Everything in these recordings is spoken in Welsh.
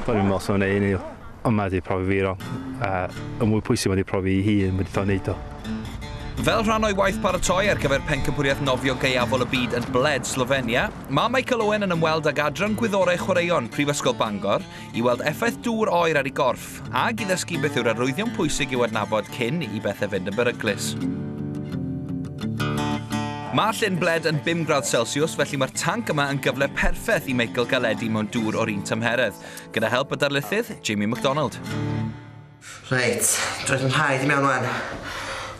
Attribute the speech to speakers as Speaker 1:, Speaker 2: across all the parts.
Speaker 1: O'n i'n meddwl sef yna un i, ond mae wedi profi fi wrong. A y mwy pwysig mae wedi profi i hun, mae wedi dod wneud o. Fel
Speaker 2: rhan o'i waith paratoi ar gyfer pencampwriaeth nofio gaeafol y byd yn Bled, Slofenia, mae Michael Owen yn ymweld ag Adran Gwyddorau Chwaraeon Prifysgol Bangor i weld effaith dŵr oer ar ei gorff. Corff, ag i ddysgu beth yw'r arwyddion pwysig i'w adnabod cyn i bethau fynd yn beryglus. Mae llyn bled yn 5 gradd Celsius, felly mae'r tanc yma yn gyfle perffaith i Michael galedu mewn dŵr o'r un tymheredd, gyda help y darlithydd, Jamie McDonald.
Speaker 3: Reit, roedd yn rhaid i mewn wan.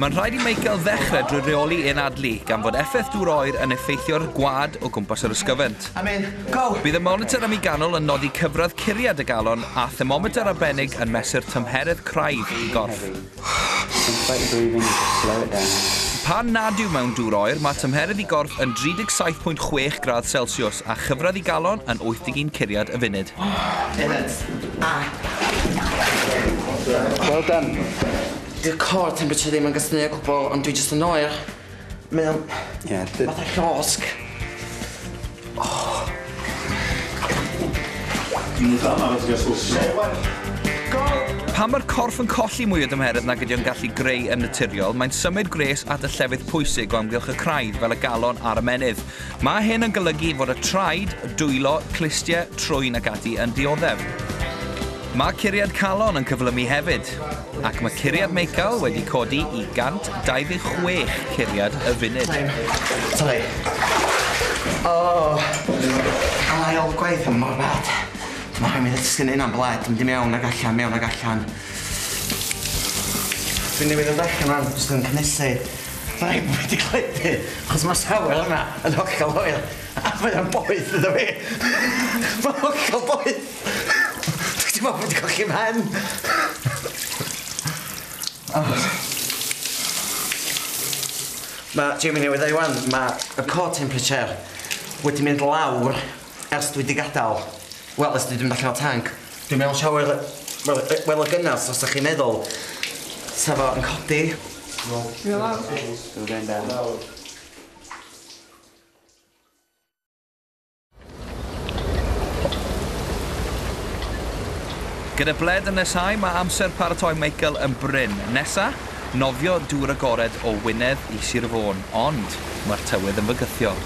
Speaker 2: Mae'n rhaid i Michael ddechrau drwy reoli ein adlu, gan fod effaith dŵr oer yn effeithio'r gwad o gwmpas yr ysgyfent. Bydd y monitor ym mi ganol yn nodi cyfradd curiad y galon a thermometr arbennig yn mesur tymheredd craidd y gorff. Pan nad yw mewn dŵr oer, mae tymheredd y gorff yn 37.6 gradd Celsiws. A chyfradd i galon yn 81 curiad y funud.
Speaker 3: Well done. Dyw core temperature ddim yn gysmu o gwbwl ond dwi jyst yn oer. Mae o'n... Ie d- fatha llosg. Dwi'n itha
Speaker 2: amarw ti ga'l sw so Pan mae'r corff yn colli mwy o dymheredd nag ydi o'n gallu greu yn naturiol, mae'n symud gwres at y llefydd pwysig o amgylch y craidd fel y galon a'r ymennydd. Mae hyn yn golygu fod y traed, dwylo, clustie, trwyn ac ati yn dioddef. Mae curiad calon yn cyflymu hefyd, ac mae curiad meical wedi codi i 126 curiad y funud. Sori.
Speaker 3: Oh! Am ail gwaith yn mor bad. Dwi'n meddwl rhaid mi ddysgu neud hynna'n blêd, mynd i mewn ag allan, mewn ag allan. Dwi newydd ddod allan wan, jyst yn cynhesu. Fyddai ddim wedi cledu, achos mae'r safle yma yn hollol hoel, a mae o'n boeth iddo fi! Mae'n hollol boeth! Dwyt ti'n meddwl bod fi 'di colli 'mhen? Mae Jamie newydd ddeud 'wan, mae y core temperature wedi mynd lawr. Ers dwi di gadal, wel ers dwi di mynd allan o tanc, dwi'n meddwl siawr yy wel yy wel o gynnas os dach chi'n meddwl sa fo yn codi. Hwyl fawr. Hwyl fawr. Hwyl fawr.
Speaker 2: Gyda ble dynesau mae amser paratoi Michael yn brin. Nesa? Nofio dŵr agored o Wynedd i Sir Fôn, ond mae'r tywydd yn fygythiol.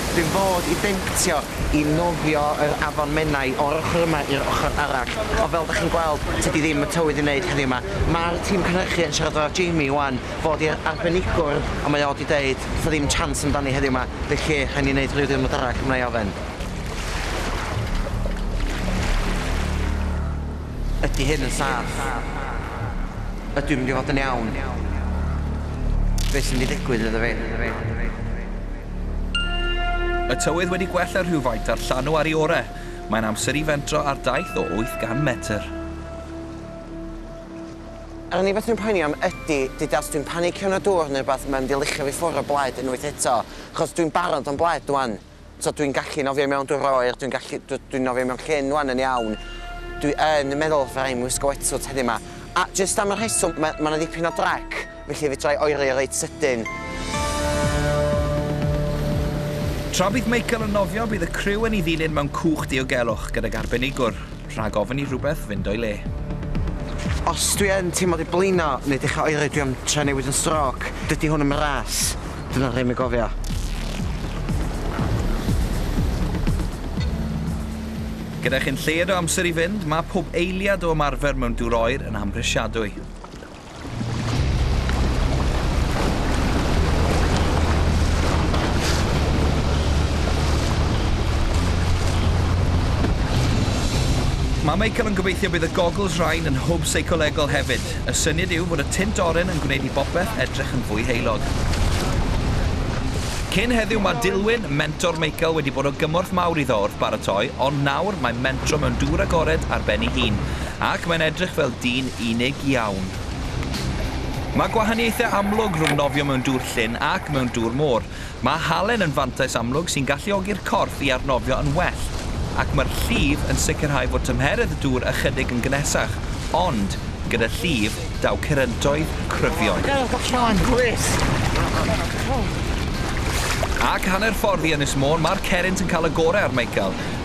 Speaker 3: Dwi'n fod i dentio i nofio yr afon Menai o'r ochr yma i'r ochr arall, ond fel dach chi'n gweld, tydi ddim y tywydd i wneud heddiw 'ma. Mae'r tîm cynhyrchu yn siarad efo Jamie ŵan, fod i'r arbenigwr, ond mae o 'di deud 'tha ddim chance amdani heddiw 'ma, felly rhaid ni neud rhyw ddiwrnod arall, wna i ofen. Ydy hyn yn saff? Ydw i'n mynd i fod yn iawn? Be sy'n mynd i ddigwydd iddo fi?
Speaker 2: Y tywydd wedi gwella rhywfaint a'r llanw ar ei ore. Mae'n amser i fentro ar daith o 800 metr.
Speaker 3: Yr unig beth dwi'n poeni am ydy, dydy os dwi'n panicio yn y dŵr neu rhywbeth mae'n mynd i luchio fi ffwr o blaid unwaith eto, achos dwi'n barod am blaid 'wan. So dwi'n gallu nofio mewn dŵr oer, dwi'n gallu, dw, dwi'n nofio mewn llyn wan yn iawn. Dwi yn meddwl fydda i'n wisgo wetsuit heddiw ma. A jyst am y rheswm, ma, ma na ddipyn o drac, felly fedra i oeri reit sydyn.
Speaker 2: Tra bydd Michael yn nofio, bydd y criw yn ei ddilyn mewn cwch diogelwch gydag arbenigwr, rhag ofn i rhywbeth fynd o'i le.
Speaker 3: Os dwi yn teimlo di blino neu dechra oeri dwi am trio newid yn strôc, dydi hwn ddim yn ras. Dyna rhei mi gofia.
Speaker 2: Gyda chi'n lled o amser i fynd, mae pob eiliad o ymarfer mewn dŵr oer yn amhrisiadwy. Mae Michael yn gobeithio bydd y goggles rhain yn hwb seicolegol hefyd. Y syniad yw bod y tint oren yn gwneud i bopeth edrych yn fwy heulog. Cyn heddiw mae Dilwyn, mentor Michael, wedi bod o gymorth mawr iddo wrth baratoi, ond nawr mae'n mentro mewn dŵr agored ar ben ei hun, ac mae'n edrych fel dyn unig iawn. Mae gwahaniaethau amlwg rhwng nofio mewn dŵr llyn ac mewn dŵr môr. Mae halen yn fantais amlwg sy'n galluogi'r corff i arnofio yn well, ac mae'r llif yn sicrhau fod tymheredd y dŵr ychydig yn gynesach, ond, gyda llif, daw curyntoedd cryfion. Ac hanner ffordd i Ynys Môn, mae'r cerrynt yn cael y gorau ar Michael.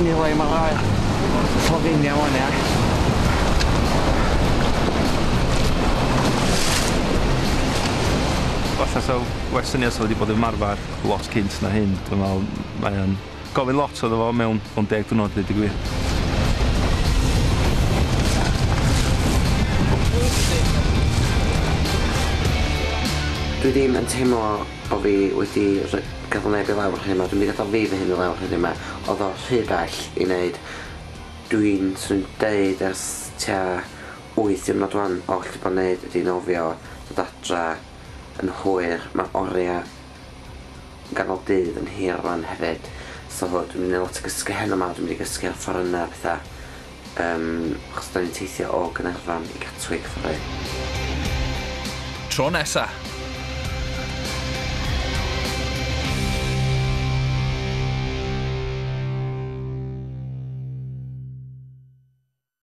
Speaker 3: Ni wy ma rai Slofenia wan ia?
Speaker 1: Falla sa well syniad sa fo 'di bod ymarfar lot cynt na hyn dwi'n me'wl mae o'n gofyn lot iddo fo mewn mewn deg diwrnod deud y gwir. Dwi
Speaker 3: ddim yn teimlo Bo fi wedi rho- gadal neb i lawr heno dwi'm 'di gadal fi fy hun i lawr heddiw 'ma odd o rhy bell i neud dwi'n swn i'n deud ers tua wyth diwrnod ŵan o allu bo' neud ydi nofio dod adra yn hwyr ma' oria ganol dydd yn hir rŵan hefyd so dwi'm 'di neud lot o gysgu heno 'ma dwi'm 'di gysgu ar fforyna a petha Yym, achos da ni'n teithio
Speaker 2: o
Speaker 3: Gaernarfon i Gatwick ddoe. Tro nesa!